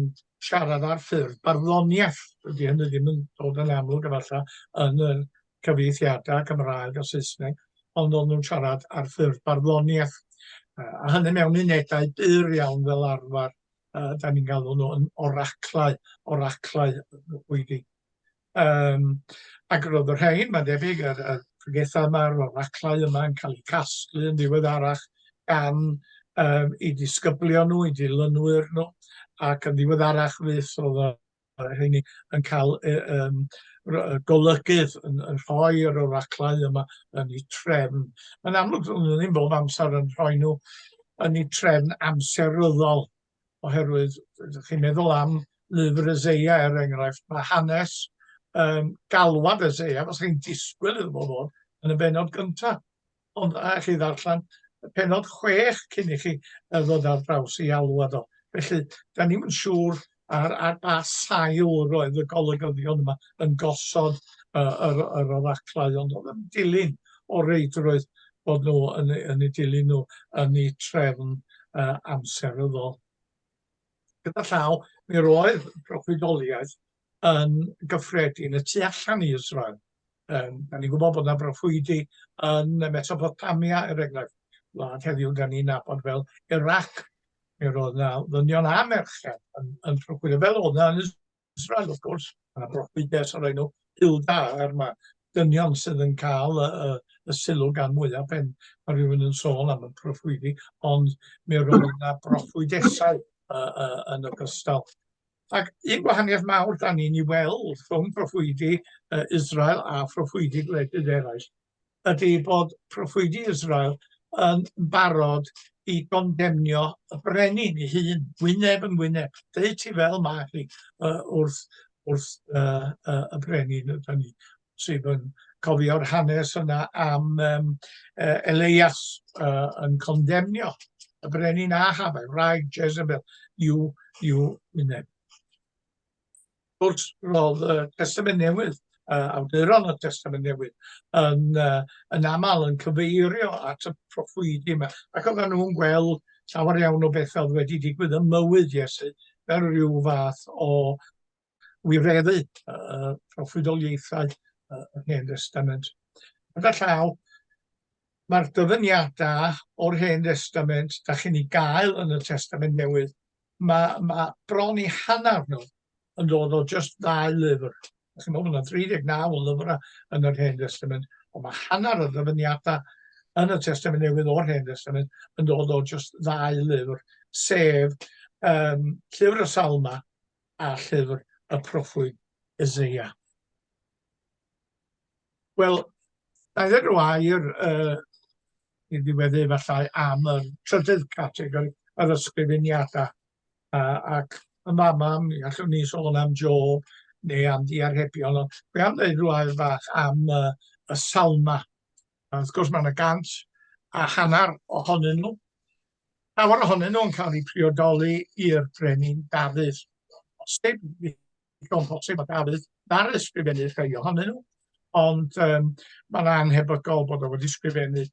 siarad ar ffurf barddoniaeth, dydi hynny ddim yn dod yn amlwg efallai yn y cyfieithiadau Cymraeg a Saesneg, ond ro'dd nhw'n siarad ar ffurf barddoniaeth, yy a hynny mewn unedau byr iawn fel arfar, yy 'dan ni'n galw nhw yn oraclau, oraclau y proffwydi. Yym ac roedd y rhain, mae'n debyg, yr y pregethau yma, yr oraclau yma yn cael eu casglu yn ddiweddarach gan yym eu disgyblion nhw, eu dilynwyr nhw, ac yn ddiweddarach fyth roedd y y rheiny yn cael y yym ro- y golygydd yn yn rhoi yr oraclau yma yn eu trefn. Mae'n amlwg doedden nhw ddim bob amser yn rhoi nhw yn eu trefn amseryddol. oherwydd ydych chi'n meddwl am lyfr Eseia, er enghraifft, mae hanes um, galwad Eseia, os chi'n disgwyl iddo fo fod yn y benod gyntaf. Ond a chi ddarllen y penod chwech cyn i chi ddod ar draws i alwad o. Felly, da ni'n yn siŵr ar, ar ba sail roedd y golygyddion yma yn gosod uh, yr, yr oraclau, ond oedd yn dilyn o reidrwydd bod nhw yn eu, yn eu dilyn nhw yn eu trefn uh, amseryddol. Gyda llaw, mi roedd proffwydoliaeth yn gyffredin y tu allan i Israel. Um, da ni'n gwybod bod yna broffwydi yn Mesopotamia, er enghraifft, wlad heddiw da ni'n nabod fel Iraq. Mi roedd yna ddynion a merched yn, yn proffwydo, fel o'na yn Israel, wrth gwrs, a broffwyddes o'r enw Hilda, er mae dynion sydd yn cael y, y, y sylw gan mwyaf pen mae rhywun yn sôn am y proffwydi, ond mi roedd yna broffwydesau uh, uh, yn ogystal. Ac un gwahaniaeth mawr da ni'n ei weld rhwng proffwydi uh, Israel a phroffwydi gwledydd eraill ydy bod proffwydi Israel yn barod i gondemnio y brenin ei hun, wyneb yn wyneb, deud ti fel mae hi uh, wrth, wrth uh, uh, y brenin ydy ni, sydd yn cofio'r hanes yna am um, uh, Elias uh, yn condemnio y brenin Ahab, rhaid Jezebel, you, you wyneb. Wrth roedd y Testament Newydd, uh, awduron y Testament Newydd, yn, uh, yn aml yn cyfeirio at y proffwydi yma, ac oedden nhw'n gweld llawer iawn o bethau oedd wedi digwydd ym mywyd Iesu, fel rhyw fath o wireddu uh, proffwydoliaethau uh, y Hen Testament. Gyda llaw, Mae'r dyfyniadau o'r Hen Destament da chi'n ei gael yn y Testament Newydd, mae, mae bron i hanner nhw yn dod o jyst ddau lyfr. Chi'n meddwl, mae yna 39 o lyfrau yn yr Hen Testament, ond mae hanner y ddyfyniadau yn y Testament Newydd o'r Hen Testament yn dod o jyst ddau lyfr, sef um, Llyfr y Salma a Llyfr y Proffwyd Isaiah. Wel, na i ddweud rhyw air i ddiweddu efallai am y trydydd categori, yr ysgrifeniadau. Ac yn fama, mi allwn ni sôn am Jo neu am ddiarhebion, ond dwi am ddweud rhyw air fach am y salma. Wrth gwrs, mae yna gant a hanner ohonyn nhw. Llawer ohonyn nhw'n cael eu priodoli i'r Brenin Dafydd, o bosib, Digon posib mae Dafydd ar ysgrifennu rhai ohonyn nhw, ond um, mae'n anhebygol bod o wedi sgrifennu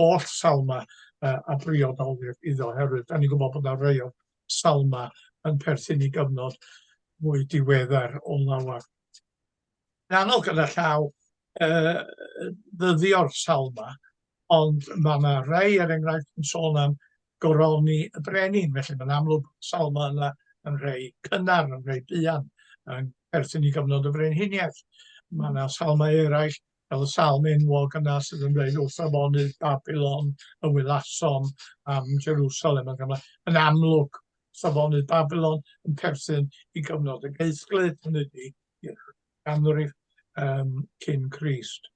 oll salma uh, a briodolir iddo, oherwydd da ni'n gwybod bod yna rhai o salma yn perthyn i gyfnod mwy diweddar o lawer. anodd gyda llaw uh, ddyddio'r sawl ma, ond mae yna rhai, er enghraifft, yn sôn am goroni y brenin, felly mae'n amlwg sawl ma yna yn rhai cynnar, yn rhai buan, yn perthyn i gyfnod y frenhiniaeth. Mae yna salmau eraill, fel y salm enwog yna sydd yn dweud wrth afonydd Babylon y wylasom am Jerusalem. Yn amlwg, safonydd Babylon yn perthyn i gyfnod y geithglyd, hynny ydy, i'r ganrif um, cyn Crist.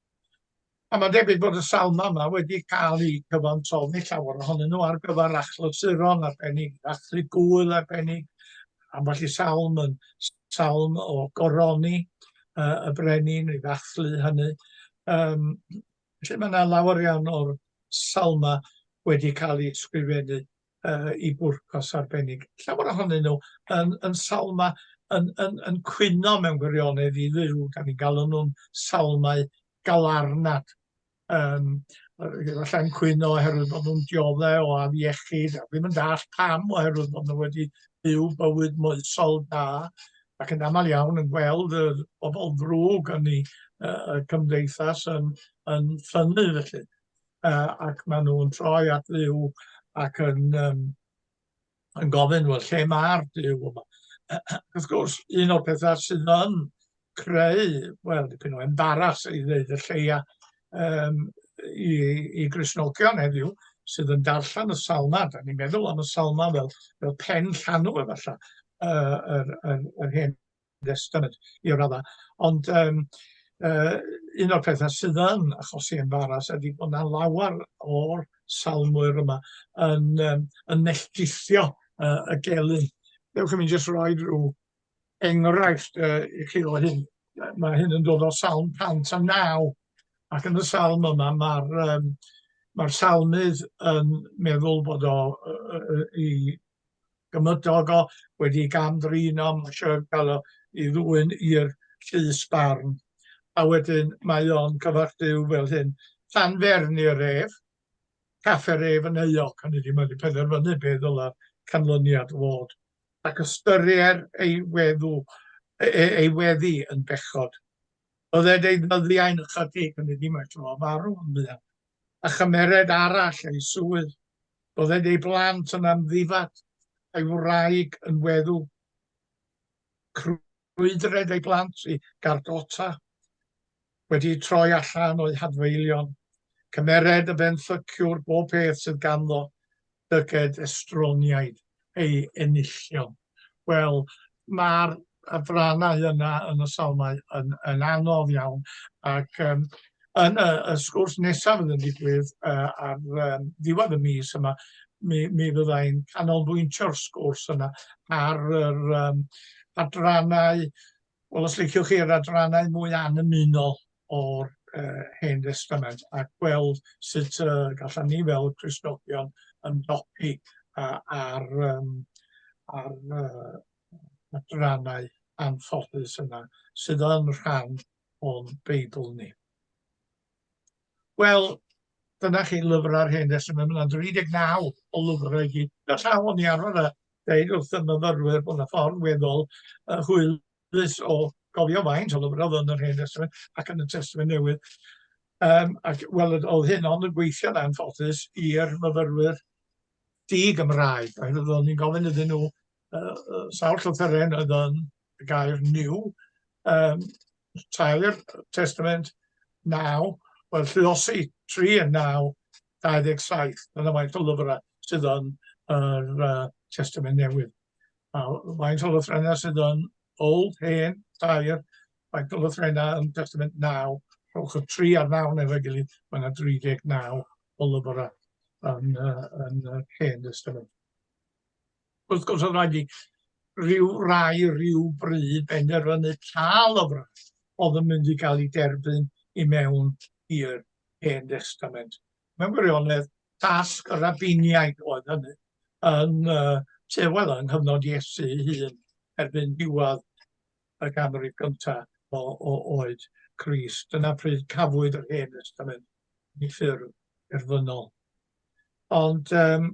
A mae'n debyg bod y salm yma wedi cael ei cyfansoddi llawer ohonyn nhw ar gyfer achlysuron arbennig, achlu gwyl arbennig, ambell i salm yn salm o goroni uh, y brenin i ddathlu hynny. Um, felly mae yna lawer iawn o'r salma wedi cael ei sgrifennu uh, i bwrpas arbennig. Llawer ohonyn nhw yn, yn salma yn, yn, yn cwyno mewn gwirionedd i ddiw, da ni'n galw nhw'n salmau galarnad. Um, Efallai'n cwyno oherwydd bod nhw'n dioddau o afiechyd, a ddim yn dall pam oherwydd bod nhw wedi byw bywyd moesol da, ac yn aml iawn yn gweld y bobl ddrwg yn ei uh, cymdeithas yn, yn ffynnu felly. uh, ac maen nhw'n troi at ddiw ac yn, um, yn gofyn, wel, lle mae'r diw yma? Wrth gwrs, un o'r pethau sydd yn creu, wel, dipyn o embaras i ddeud y lleia um, i, i grisnogion heddiw, sydd yn darllen y salma, da ni'n meddwl am y salma fel, fel pen llanw efallai, uh, yr, yr, yr hen Estyn i'r raddau. Ond yym yy un o'r petha sydd yn achosi embaras ydi bod 'na lawer o'r salmwyr yma yn yym yn melltithio yy y gelyn. Dewch i mi jyst roi ryw enghraifft yy i chi o hyn. Yy ma' hyn yn dod o Salm 109 ac yn y salm yma ma'r yym ma'r salmydd yn meddwl bod o yy yy i gymydog o wedi gam drin o eisiau cael o i ddwyn i'r llys barn. A wedyn mae o'n cyfarthyw fel hyn. Tan ferni y ref, caffe ref yn euog, hynny di mae'n penderfynu beth ddyla canlyniad fod. Ac ystyrier ei weddw, ei, ei weddi yn bechod. Bydded ei ddyddiau'n ychydig yn iddi mae tro farw yn fuan, a chymered arall ei swydd, bydded ei blant yn amddifad, a'i wraig yn weddw. Crwydred ei blant i gardota, wedi troi allan o'i hadfeilion. Cymered y benthyciwr bob peth sydd ganddo, llygaid estroniaid ei enillion. Wel, mae'r adrannau yna yn y salmau yn, yn anodd iawn, ac um, yn y, y sgwrs nesaf yn y digwydd uh, ar um, ddiwedd y mis yma, mi, mi fydda i'n canolbwyntio'r sgwrs yna ar yr um, adrannau, wel os liciwch chi, yr adrannau mwy annymunol o'r yy Hen Destament a gweld sut yy gallan ni fel Cristnogion ymdopi â â'r yym â'r yy adrannau anffodus yna sydd yn rhan o'n Beibl ni. Wel, dyna chi lyfrau'r Hen Destament, mae'n 39 o lyfrau i gyd. Gallaf o'n i arfer a dweud wrth y myfyrwyr bod yna ffordd weddol yy hwyl Rhys o gofio faint o lyfrau oedd yn yr Hen Destament ac yn y Testament Newydd. Um, ac wel, oedd hyn ond yn gweithio'n anffodus i'r myfyrwyr di-Gymraeg, oherwydd oeddwn ni'n gofyn iddyn nhw uh, uh, sawl llythyren oedd yn y gair new, um, tair testament naw, wel, lluosi tri yn naw, 27, dyna faint o lyfrau sydd yn yr uh, testament newydd. A faint o lythrennau sydd yn Old, Hen, Tair, faint o lythrennau yn Testament Naw? Rhowch y tri ar naw neu efo'i gilydd, mae yna 39 o lyfrau yn, uh, yn uh, Hen Testament. Wrth gwrs, oedd rhaid i rhyw rai rhyw bryd benderfynu pa lyfrau oedd yn mynd i gael ei derbyn i mewn i'r Hen Testament. mewn gwirionedd, tasg y rabiniaid oedd hynny, yn uh, te, wel, yng nghyfnod Iesu ei hun, erbyn diwedd y ganrif gyntaf o, o oed Christ. Dyna pryd cafwyd yr Hen Testament i ffurf erfynol. Ond um,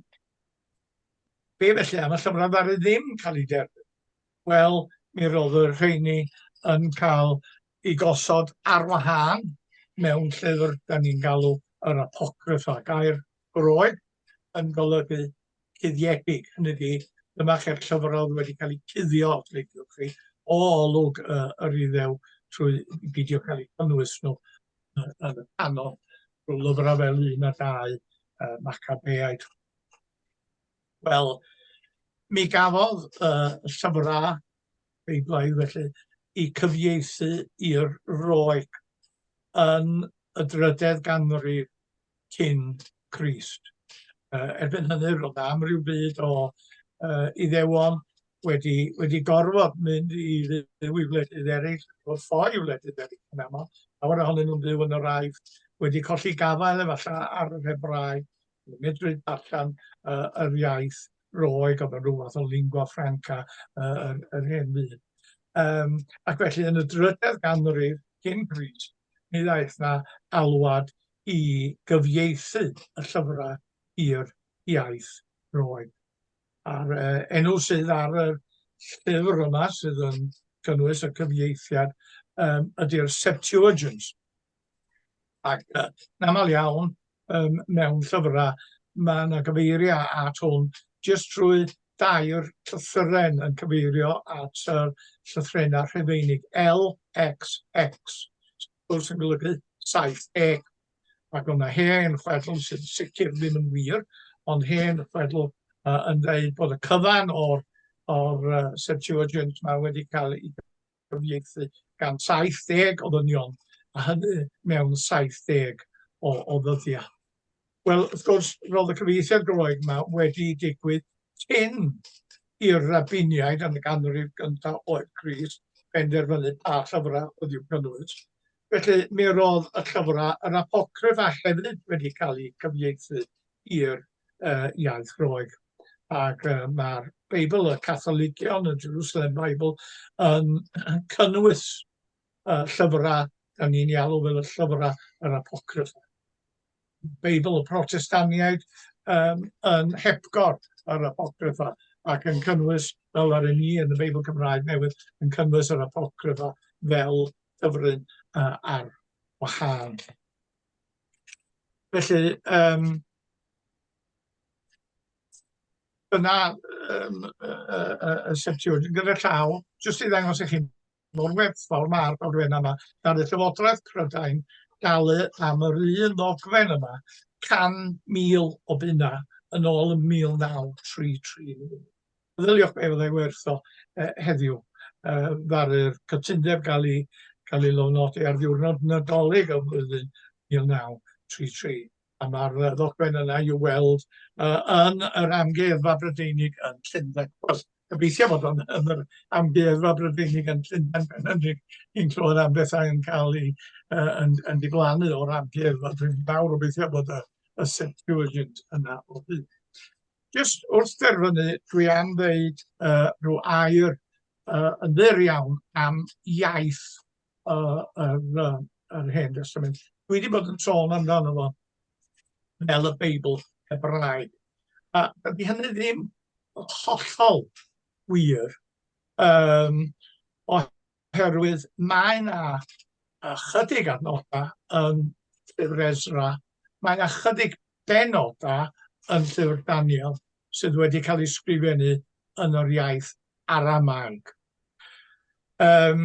be felly, am y llyfrau ddaru ddim cael ei derbyn? Wel, mi roedd y rheini yn cael ei gosod ar wahân mewn llyfr dan ni'n galw yr Apocryffa. Gair roedd yn golygu cuddiedig, hynny ydi, dyma chi'r llyfr oedd wedi cael ei cuddio, os liciwch chi, o olwg uh, yr iddew trwy beidio cael eu cynnwys nhw yn y canon. Rhyw lyfrau fel un a dau, uh, Macabeaid, Wel, mi gafodd y llyfrau Beiblaidd felly eu cyfieithu i'r Roeg yn y drydedd ganrif cyn Crist. Yy erbyn hynny roedd 'na amryw byd o yy Iddewon wedi wedi gorfod mynd i fyw i wledydd eraill, fod ffoi i wledydd eraill yn aml, llawer ohonyn nhw'n byw yn yr Aifft, wedi colli gafael efallai ar yr Hebraeg, medru darllen uh, yr iaith roeg, oedd yn rhyw fath o lingua franca uh, yr, yr hen fyd. Um, ac felly yn y drydedd ganrif cyn Gris, mi ddaeth na alwad i gyfieithu y llyfrau i'r iaith roeg. A'r uh, enw sydd ar y llyfr yma sydd yn cynnwys y cyfieithiad um, ydy'r Septuagint, Ac uh, yn aml iawn, um, mewn llyfrau, mae yna gyfeiriau at hwn jyst trwy dair llythyren yn cyfeirio at y uh, llythrenau rhefeinig LXX, sy'n golygu 7E. Ac o'na hen chwedl sy'n sicr ddim yn wir, ond hen chwedl uh, yn dweud bod y cyfan o'r, or, uh, Septuagint mae wedi cael ei cyfieithu gan 70 o ddynion, a hynny mewn 70 o, o ddyddiau. Wel, wrth gwrs, roedd y cyfieithiad Groeg yma wedi digwydd cyn i'r rabiniaid yn y ganrif gyntaf oed Cris benderfynu pa llyfrau oedd i'w cynnwys. Felly, mi roedd y llyfrau, yr apocryff a hefyd wedi cael eu cyfieithu i'r yy iaith Groeg. Ac yy ma'r Beibl, y Catholigion, y Jerusalem Bible, yn cynnwys uh, llyfrau, da ni'n ei alw fel y llyfrau yr apocryff. Beibl y Protestaniaid um, yn hepgor yr apocryffa ac yn cynnwys, fel ar ni yn y Beibl Cymraeg newydd, yn cynnwys yr apocryffa fel dyfryn uh, ar wahân. Felly, yym, dyna yym, y y y y setiwr. Gyda llaw, jyst i ddangos i chi mor werthfawr ma'r ddogfen yma, gan y Llywodraeth Prydain dalu am yr un ddogfen yma 100,000 o bunnau yn ôl yn 1933. Meddyliwch be fyddai werth o uh, heddiw. Uh, ddaru'r cytundeb gael ei, gael ei lofnodi ar ddiwrnod nadolig y flwyddyn 1933 a mae'r ddogfen yna i'w weld uh, yn yr amgueddfa Brydeinig yn Llundain. Wel, gobeithio bod o'n yn yr amgueddfa Brydeinig yn Llundain pen hynny i'n clywed am bethau yn cael ei uh, yn, yn diflannu o'r amgueddfa. Dwi'n fawr obeithio bod y, y Septuagint yna o hyd. Jyst wrth dderfynu, dwi am ddeud uh, rhyw air uh, yn ddur iawn am iaith uh, yr, uh, yr Hen Testament. Dwi wedi bod yn sôn amdano fo fel y Beibl Hebraeg. A ydy hynny ddim hollol wir, um, Oherwydd mae 'na ychydig adnodau yn Llyfr Ezra, mae 'na chydig benodau yn Llyfr Daniel sydd wedi cael eu sgrifennu yn yr iaith Aramaeg. Um,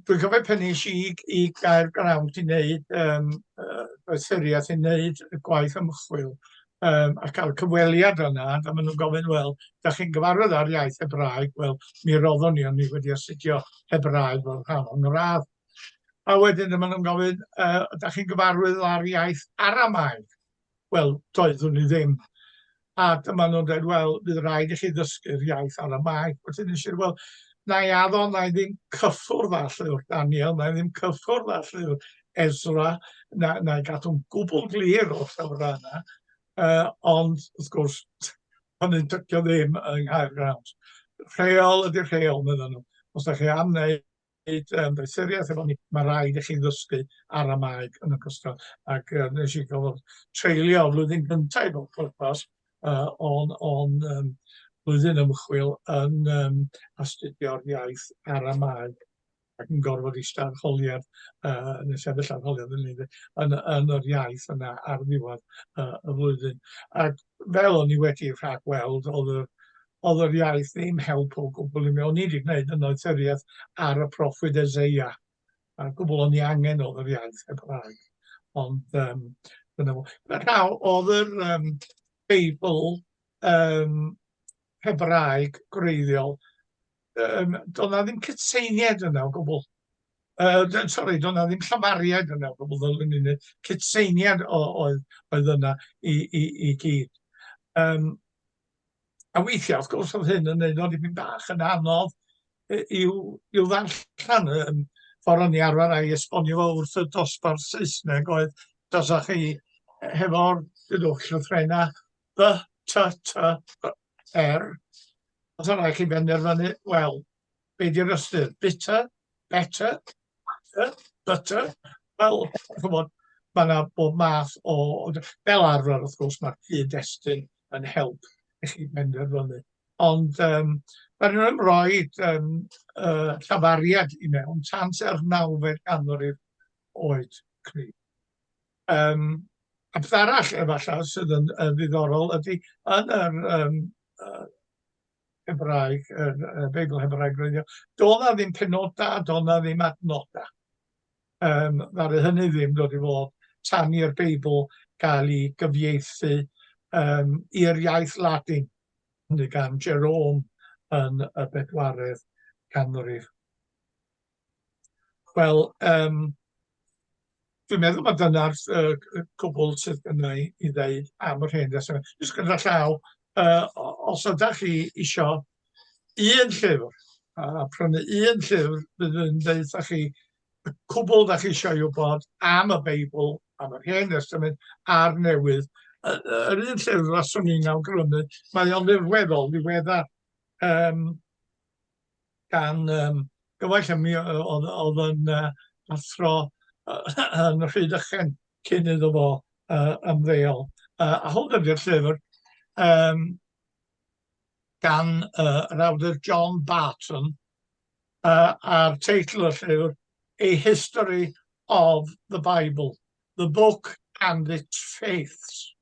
dwi'n cofio pen nes i i gael grawnt i wneud um, uh, doethuriaeth i wneud y gwaith ymchwil, um, a cael cyfweliad yna, a maen nhw'n gofyn, wel, da chi'n gyfarwydd ar iaith Hebraeg? Wel, mi roddwn ni, ond ni wedi astudio Hebraeg fel rhan o'n radd. A wedyn maen nhw'n gofyn, uh, da chi'n gyfarwydd ar iaith Aramaeg? Wel, doeddwn ni ddim. A dyma nhw'n dweud, wel, bydd rhaid i chi ddysgu'r iaith Aramaeg. Wedyn nes i'r, wel, na i addo, na i ddim cyffwrdd â llyfr Daniel, na i ddim cyffwrdd â llyfr Ezra na na i gadw'n gwbl glir o'r llawrau yna, uh, ond wrth gwrs, pan yn dycio ddim yng Nghaer Grawnt. Rheol ydy'r rheol, meddyn nhw. Os da chi am wneud um, doethuriaeth efo ni, mae rhaid i chi ddysgu aramaeg yn ogystal. Ac uh, nes i gofod treulio flwyddyn gyntaf o'r pwrpas uh, o'n, on, um, flwyddyn ymchwil yn um, astudio'r iaith aramaeg ac yn gorfod ista arholiad uh, neu sefyll arholiad yn, yn, yn yr iaith yna ar ddiwedd uh, y flwyddyn. Ac fel o'n i wedi rhag weld, oedd yr, oedd yr iaith ddim help o gwbl i mi. O'n i wedi gwneud yn oethuriaeth ar y proffwyd Ezeia. A gwbl o'n i angen oedd yr iaith Hebraeg. Ond um, dyna fo. Rhaw, oedd yr um, Beibl um, Hebraeg gwreiddiol um, doedd na ddim cytseiniaid yna o gwbl. Uh, sorry, doedd na ddim llafariaid yna o gwbl, doedd na ddim cytseiniaid oedd, oedd yna i, i, i gyd. Um, a weithiau, wrth gwrs, oedd hyn yn neud o'n dipyn bach yn anodd i'w, i'w ddarllen. Um, ffordd o'n i arfer a'i esbonio fo wrth y dosbarth Saesneg oedd, dasa chi hefo'r dydwch llythrenau B, T, T, B, R. Os yna chi benderfynu, wel, be di'r ystyr? Bitter, better, butter, butter. Wel, chymod, mae yna bob math o... Fel arfer, wrth gwrs, mae'r cyd-destun yn help i chi benderfynu. Ond um, mae nhw'n ymroed um, uh, llafariad i mewn tant yr nawfed ganrif oed cryf. Yym, a peth arall efallai sydd yn yn ddiddorol ydy yn yr yym yy Hebraeg, yr yy Beibl Hebraeg gwreiddiol, doedd 'na ddim penodau a doedd 'na ddim adnodau. Yym, ddaru hynny ddim dod i fod tan i'r Beibl gael ei gyfieithu yym i'r iaith Ladin, hynny gan Jerome yn y bedwaredd canrif. Wel, yym, dwi'n meddwl ma' dyna'r s- yy c- yy cwbwl sydd gynna' i i ddeud am yr hen ddestyna. Jyst gyda llaw, yy o- os ydach chi isio un llyfr, a a prynu un llyfr fydd yn ddeutha chi y cwbwl 'dach chi isio'i wbod am y Beibl, am yr Hen Destament a'r Newydd, yy yy yr un llyfr faswn i'n awgrymu, mae o'n ddirweddol ddiweddar, yym. gan um, gyfaill ym mi oedd yn uh, athro yn rhyd ychen cyn iddo fo uh, ymddeol. Uh, a hwn ydy'r llyfr um, gan uh, yr awdur John Barton uh, a'r teitl y llyfr A History of the Bible, the Book and its Faiths.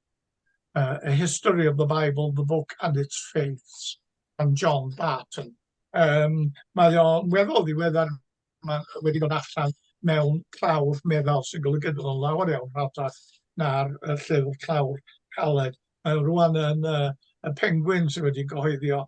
Uh, a History of the Bible, the Book and its Faiths. gan John Barton. Yym, mae o'n weddol ddiweddar, mae wedi dod allan mewn clawr meddal, sy'n golygu bod o'n lawer iawn rhatach na'r yy llyfr clawr caled. Mae o rŵan yn y y Penguin sydd wedi gyhoeddi o,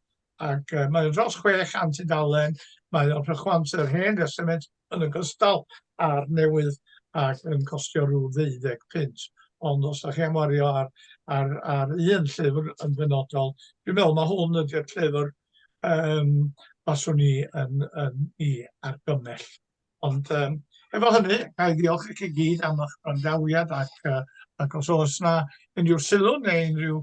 ac yy mae o dros 600 tudalen, mae o'n rhychwantu'r Hen Destament yn ogystal â'r newydd ac yn costio rhyw ddeuddeg punt. Ond os da chi am wario ar, ar, ar un llyfr yn benodol, dwi'n meddwl mae hwn ydy'r llyfr um, baswn i yn, yn i argymell. Ond um, efo hynny, a i ddiolch i chi gyd am eich brandawiad ac, uh, ac os oes yna unrhyw sylw neu unrhyw